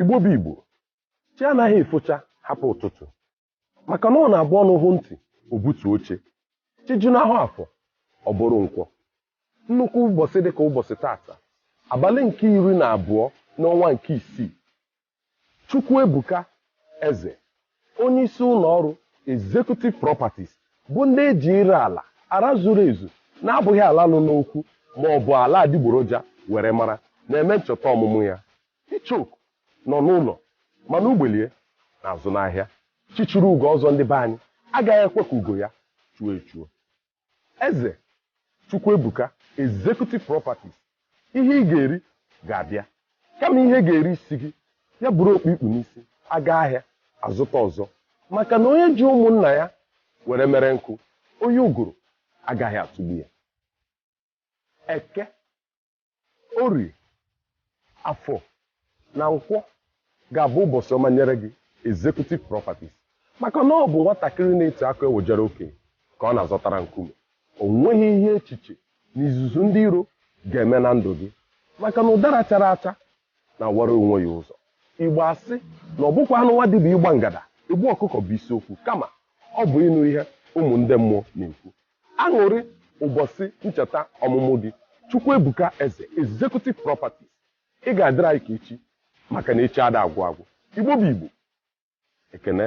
Igbo bụ Igbo, chi anaghị efocha hapụ ụtụtụ maka na ọ na-abụ ọnụ hụ ntị o butuo oche chi junahụ afọ ọ bụrụ nkwọ nnukwu ụbọsị dịka ụbọsị tata abalị nke iri na abụọ n'ọnwa nke isii Chukwuebuka Eze Onyeisi ụlọọrụ Executive Properties bụ ndị e ji ire ala, ala zuru ezu na-abụghị ala nọ n'okwu ma ọ bụ ala adigboroja were mara na-eme ncheta ọmụmụ ya. Icheoku nọ n'ụlọ mana ugbele ya na-azụ n'ahịa. Chi chiri ugo ọzọ ndị be anyị agaghị ekwe ka ugo ya chuo echuo. Eze Chukwuebuka Executive Properties, Ihe ị ga-eri ga-abịa. Kama ihe ga-eri isi gị, ya buru okpu i kpu n'isi, a gaa ahịa, a zụta ọzọ. Maka na onye ji ụmụnna ya were mere nkụ, oyi ụgụrụ agaghị atụgbu ya. Eke. Orie, Afọ na Nkwọ ga-abụ ụbọsị ọma nyere gị, Executive Properties, maka na ọ bụ nwatakịrị na-eti akụ ewejere okenye ka ọ na-azọtara nkume. O nweghị ihe echiche na izuzu ndị iro ga-eme na ndụ gị maka na ụdara chara acha na-awara onwe ya ụzọ. Igbo asị na ọ bụkwanụ nwa dibịa ịgba ngada egbu ọkụkọ bụ isiokwu kama ọ bụ ịnụ ihe ụmụ ndị mmụọ na-ekwu. Aṅụrị ụbọsị ncheta ọmụmụ gị Chukwuebuka Eze Executive Properties Ị ga-adịrị anyị ka echi maka na echi ada agwụ agwụ. Igbo bụ Igbo. Ekene.